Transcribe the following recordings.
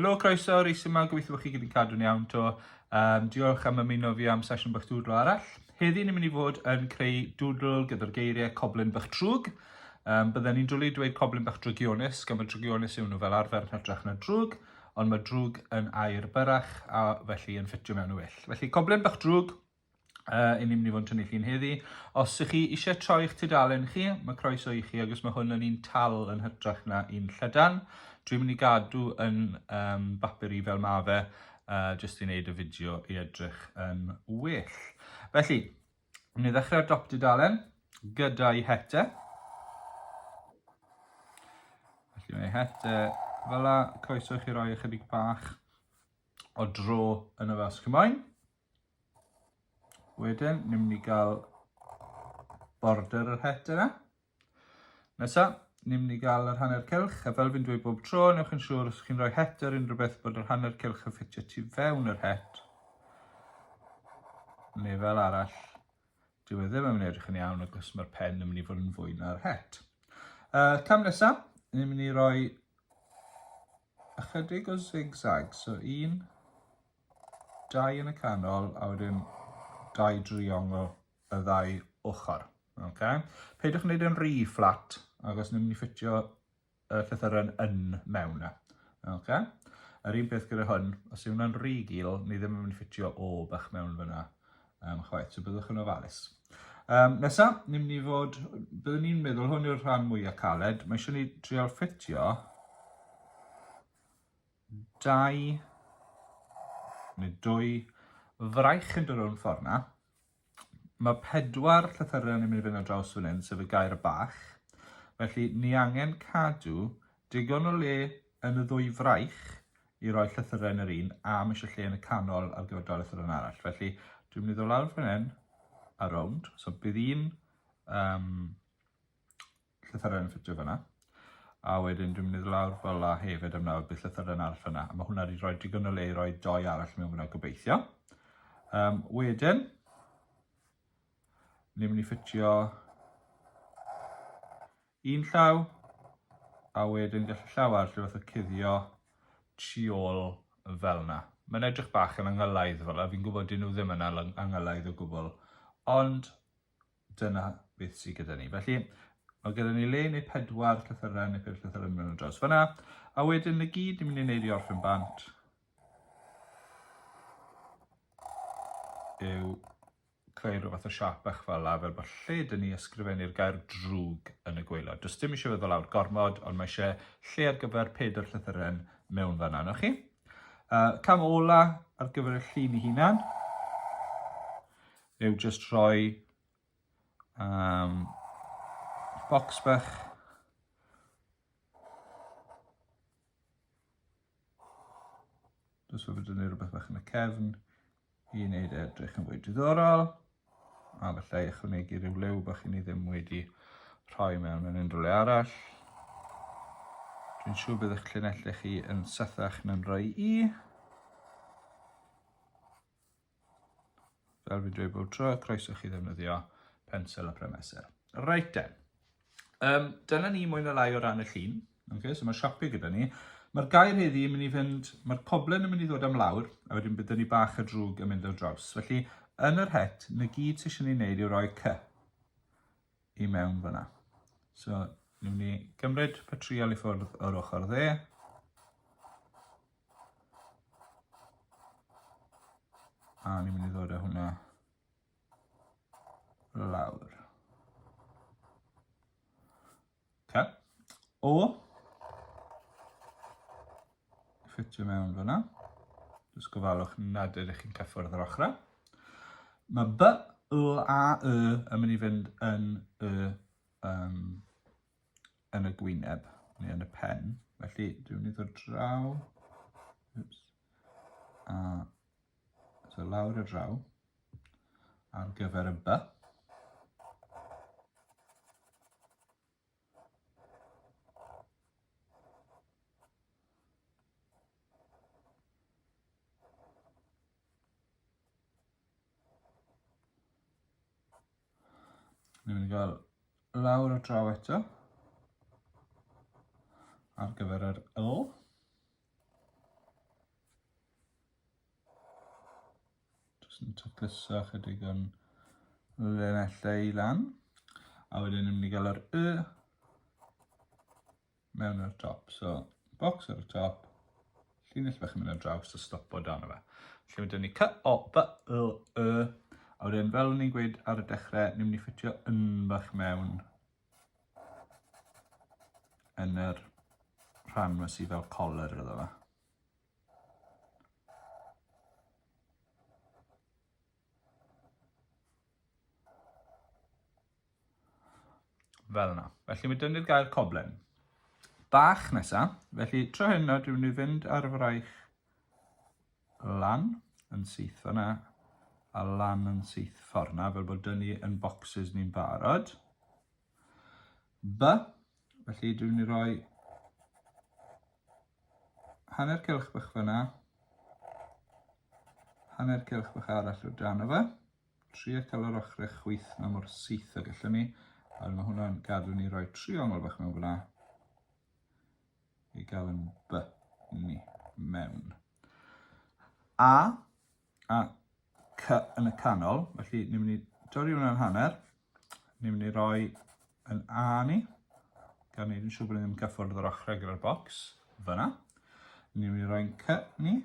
Helo, croeso, reis yma, gobeithio bod chi gyda'n cadw'n iawn to. Um, diolch am ymuno fi am sesiwn bach dwdlo arall. Heddi ni'n mynd i fod yn creu dwdl gyda'r geiriau coblyn bach trwg. Um, Byddwn ni'n dwlu dweud coblyn bach drygionus, gan bod drygionus yw nhw fel arfer yn hytrach na drwg. ond mae drwg yn air byrrach a felly yn ffitio mewn y well. Felly coblyn bach drwg, uh, i ni'n mynd i fod yn tynnu llun heddi. Os ych chi eisiau troi eich tudalen chi, mae croeso i chi, agos mae hwn yn un tal yn hytrach na un llydan. Dwi'n mynd i gadw yn um, bapur i fel mae fe, uh, jyst i wneud y fideo i edrych yn well. Felly, Yn ei ddechrau'r dop dudalen gyda'i hete. Felly mae hete fel la, croeso i chi roi ychydig bach o dro yn y fas cymoen. Wedyn, ni'n mynd i gael border yr het yna. Nesa, ni'n mynd i gael yr hanner cylch, a fel fi'n dweud bob tro, newch yn siŵr os chi'n rhoi het ar unrhyw beth bod yr hanner cylch yn ffitio tu fewn yr het, neu fel arall, dyw e ddim yn mynd edrych yn iawn ac os mae'r pen yn mynd i fod yn fwy na'r het. Uh, cam nesa, ni'n mynd i roi ychydig o zigzag, so un, dau yn y canol, a wedyn dau driongl y ddau ochr. Okay. Peidiwch wneud yn rhy fflat, ac os ni'n mynd i ffitio y llythyren yn mewn e. Okay. Yr un peth gyda hwn, os yw hwnna'n rhy gil, ni ddim yn mynd i ffitio o bach mewn fyna um, chwaith, so byddwch yn ofalus. Um, nesa, ni'n mynd i fod, byddwn ni'n meddwl hwn yw'r rhan mwyaf caled, mae eisiau ni trial ffitio dau neu dwy fraich yn dod o'n ffordd na, Mae pedwar llythyren yn mynd i fynd ar draws fan hyn, sef y gair y bach. Felly, ni angen cadw digon o le yn y ddwy fraich i roi llythyren yr un a mae eisiau lle yn y canol ar gyfer dau llythyren arall. Felly, dwi'n mynd i ddod lawr fan hyn a rownd. So, bydd un um, llythyren yn ffitio fyna. A wedyn dwi'n mynd i lawr fel a hefyd am nawr bydd llythyren arall fyna. A mae hwnna wedi rhoi digon o le i roi doi arall mewn fyna gobeithio. Um, wedyn, ni'n mynd i ffitio un llaw, a wedyn gallu llaw arall rhywbeth o cuddio tu ôl fel yna. Mae'n edrych bach yn angylaidd fel yna, fi'n gwybod dyn nhw ddim yn angylaidd o gwbl, ond dyna beth sydd gyda ni. Felly, mae gyda ni le neu pedwar llythyrau neu peth llythyrau yn mynd dros fyna. A wedyn y gyd ni'n mynd i wneud i orffen bant yw creu rhywbeth fath o siap bach fel la, fel bod lle dyn ni ysgrifennu'r gair drwg yn y gweilod. Does dim eisiau feddwl awr gormod, ond mae eisiau lle ar gyfer pedwar llythyrau mewn fanna, na chi? Uh, cam ola ar gyfer y llun i hunan. yw just rhoi um, box bach Jyst fod yn dynnu rhywbeth bach yn y cefn i wneud e edrych yn fwy diddorol. A felly ychwanegu rhyw lew bach i ni ddim wedi rhoi mewn yn unrhyw le arall. Dwi'n siŵr bydd eich llinellau chi yn sythach na'n rhoi i. Fel fi'n dweud bob tro, croeso chi ddefnyddio pensel a premesel. Reit den. Um, dyna ni mwy na lai o ran y llun. Okay, so mae siapio gyda ni. Mae'r gair heddi yn mynd i fynd, mae'r poblen yn mynd i ddod am lawr, a wedyn byddwn ni bach a drwg yn mynd ar draws. Felly, yn yr het, na gyd sy'n eisiau ei wneud yw roi cy i mewn fyna. So, ni'n mynd i gymryd patrial i ffwrdd o'r ochr dde. A ni'n mynd i ddod â hwnna lawr. Okay. O, ffitio mewn fyna. Jyst gofalwch nad ydych chi'n cyffwrdd yr ochrau. Mae B, L a Y yn mynd i fynd yn y um, yn y gwyneb neu yn y pen. Felly, dwi'n mynd i ddod draw. Oops. A so lawr y draw ar gyfer y by. Ni'n mynd i gael lawr a draw eto ar gyfer yr L. Jyst yn tacluso chydig o'n lenellau i lan. A wedyn ni'n mynd i gael yr Y mewn ar y top. So, box ar y top, llinell bach yn mynd ar draws a stopo dan o fe. Felly mae dyn ni cy, o, by, y, y, a wedyn fel ni'n gweud ar y dechrau, ni'n mynd i ffitio yn bach mewn yn yr rhan yma sydd fel collar iddo fe. Fel yna. Felly mae dynnu'r gair coblen. Bach nesa. Felly tro hyn nawr dwi'n mynd i fynd ar y fraich lan yn syth fanna a lan yn syth fforna fel bod dynnu yn boxes ni'n barod. B. Felly dwi'n mynd i roi hanner cylch bach fyna, hanner cylch bach arall o dan o fe. Trio cael yr ochrau chwyth yma mor syth o gallwn ni, a mae hwnna'n gadw ni roi triongl bach mewn fyna i gael yn by ni mewn. A, a cy yn y canol, felly ni'n mynd i dorri hwnna'n hanner, Ni'n mynd i roi yn A ni. Gan ni'n siŵr bod ni'n cyffwrdd yr ochrau gyda'r bocs. Fyna. Ni'n mynd i roi yn C ni.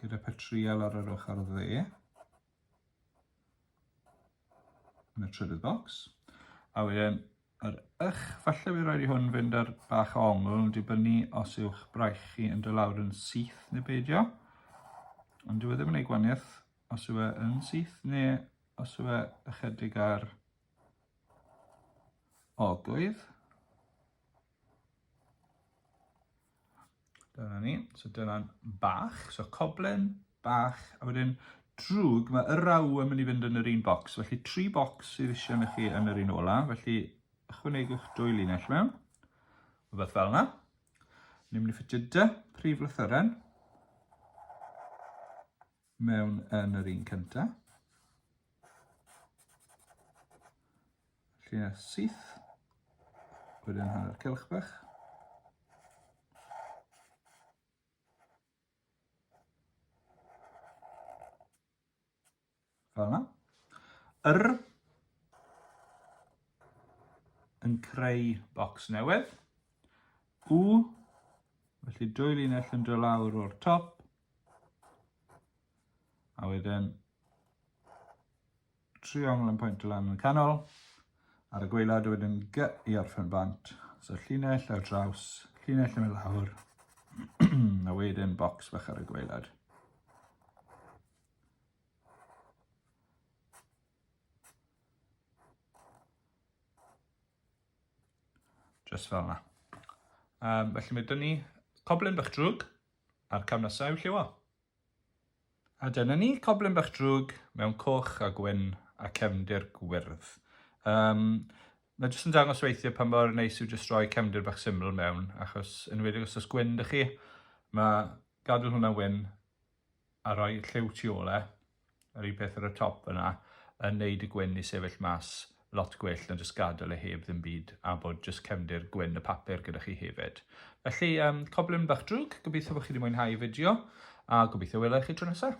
Gyda petriol ar yr ochr dde. Yn y trydydd bocs. A wedyn yr ych, falle fi rhaid i hwn fynd ar bach o ongl, dibynnu os yw'ch braich chi yn dod lawr yn syth neu beidio. Ond dyw e ddim yn ei gwaniaeth Os yw e yn syth neu os yw e ychydig ar ogoedd. Dyna ni. So dyna'n bach. So coblen, bach, a wedyn drwg, mae y raw yn mynd i fynd yn yr un bocs. Felly tri bocs sydd eisiau ni chi yn yr un ola. Felly ychwanegwch dwy linell mewn. Rhywbeth fel yna. Ni'n mynd i ffitio dy prif lythyren. mewn yn yr un cynta. Lle syth, wedyn hanner cylch bach. Fel yna. Yr yn creu bocs newydd. U, felly dwy linell yn dod lawr o'r top, A wedyn triongl yn pwynt lan yn y canol. Ar y gweilad wedyn gy i orffen bant. So llinell ar draws, llinell yn y lawr. a wedyn bocs bach ar y gweilad. Just fel yna. Um, felly mae dyn ni coblyn bach drwg A'r cam nesa yw lliwio. A dyna ni, coblyn bach drwg mewn coch a gwyn a cefndir gwyrdd. Um, mae jyst yn dangos weithiau pan mor neis yw jyst rhoi cefndir bach syml mewn, achos yn wedi os oes gwyn dych chi, mae gadael hwnna'n wyn a rhoi lliw tu ole, Yr un peth ar y top yna yn neud y gwyn i sefyll mas lot gwell na jyst gadel e heb ddim byd a bod jyst cefndir gwyn y papur gyda chi hefyd. Felly um, coblyn bach drwg, gobeithio bod chi wedi mwynhau y fideo a gobeithio wela i chi tro nesaf.